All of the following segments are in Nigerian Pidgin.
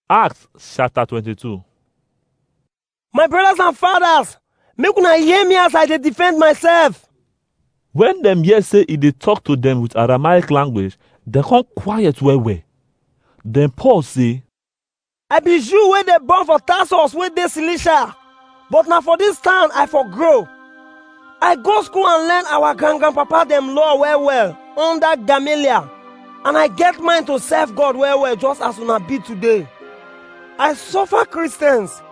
Acts chapter 22. My brothers and fathers, make una hear me as I dey defend myself. When dem hear say e dey talk to dem with Aramaic language, dem come quiet well well. Then Paul say, I be Jew wey dey born for Tarsus wey dey Cilicia. but na for dis town i for grow i go school and learn our grand grandpapa dem law well well under gamaliel and i get mind to serve god well well just as una be today i suffer christians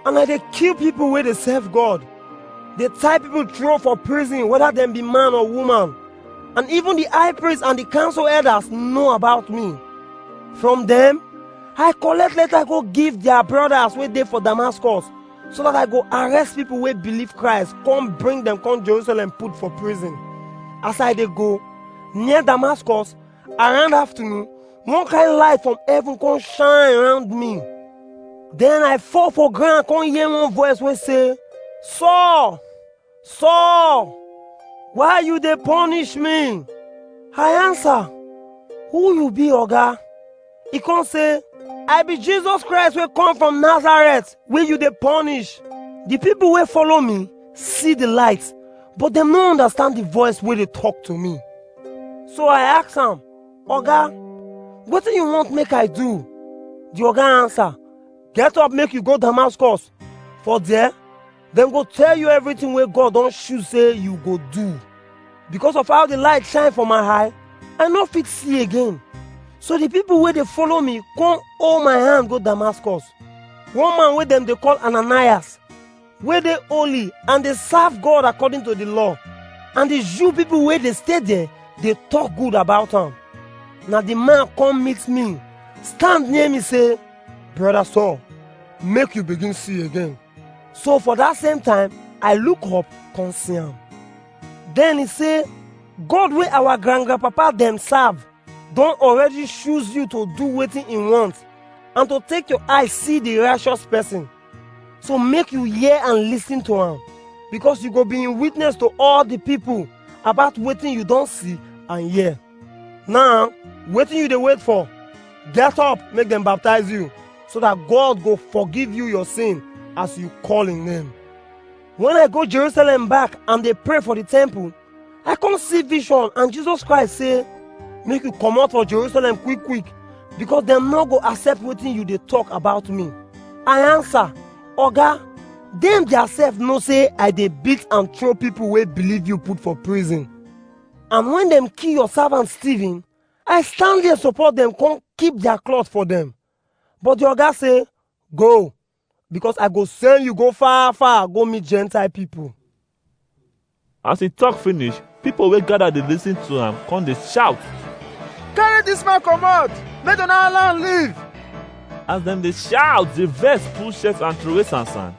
and i dey kill people wey dey serve god dey tie people throw for prison whether dem be man or woman and even the high priest and the council elders know about me from dem I collect letter go give their brothers wey dey for Damascus so that I go arrest people wey believe Christ, come bring them come Jerusalem put for prison. As I dey go, near Damascus, around afternoon, one kind light from heaven come shine around me. Then I fall for ground, come hear one voice wey say, Saul, Saul, why you dey punish me? I answer, who you be oga? He come say, I be Jesus Christ wey come from Nazareth wey you dey punish. The people wey follow me see the light, but dem no understand the voice wey dey talk to me. So I ask am, Oga, wetin you want make I do? The oga answer, Get up make you go Damascus, for there Dem go tell you everything wey God don choose say you go do. Because of how the light shine for my eye, I no fit see again. So the people wey dey follow me come hold my hand go Damascus. One man wey dem dey call Ananias, wey dey holy and dey serve God according to the law. And the Jew people wey dey stay there dey talk good about am. Na the man come meet me, stand near me say, Brother Saul, make you begin see again. So for that same time, I look up, come see am. Then he say, God wey our grand grandpapa dem serve don already choose you to do wetin he want and to take your eye see the righteous person. So make you hear and listen to am because you go be in witness to all the people about wetin you don see and hear. Now, wetin you dey wait for? Get up, make dem baptize you. so that God go forgive you your sin as you call in name. When I go Jerusalem back and they pray for the temple, I come see vision and Jesus Christ say, make you come out for Jerusalem quick quick because dem no go accept wetin you dey talk about me. I answer, Oga, dem theirself know say I dey beat and throw people wey believe you put for prison. And when dem kill your servant Stephen, I stand there support dem come keep their cloth for dem. But the oga say, Go, because I go send you go far, far, go meet Gentile people. As he talk finish, people wey gather dey lis ten to am come dey shout. Carry this man comot, make don allow am leave. As dem dey shout, the vex full shirt and throway sansan.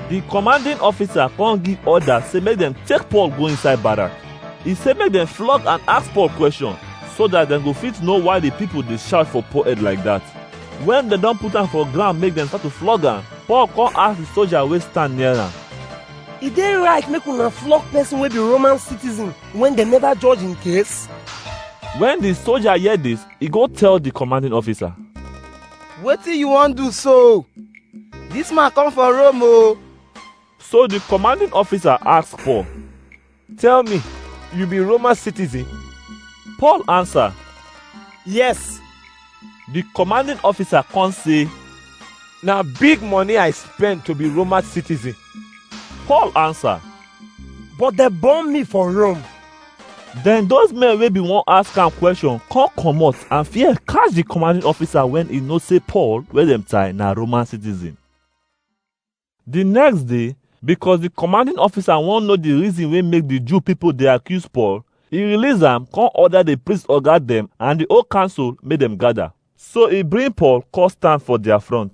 The commanding officer come give order say make dem take Paul go inside barrack. E say make dem flog and ask Paul question so that dem go fit know why the people dey shout for Paul head like that. When dem don put am for ground make dem start to flog am, Paul come ask the soldier wey stand near am. E dey right make una flog person wey be Roman citizen when dem never judge im case? When the soldier hear this, e go tell the commanding officer. Wetin you wan do so? Dis man come from Rome o. So the commanding officer ask Paul, Tell me, you be Roman citizen? Paul answer, Yes. The commanding officer come say, Na big money I spend to be Roman citizen. Paul answer, But they born me for Rome. Then those men wey bin wan ask am question come comot and fear catch the commanding officer when e know say Paul wey dem tie na Roman citizen. Di next day, because di commanding officer wan know di reason wey make di Jew pipo dey accuse Paul, e release am come order di priest oga dem and di whole council make dem gather. So e bring Paul come stand for dia front.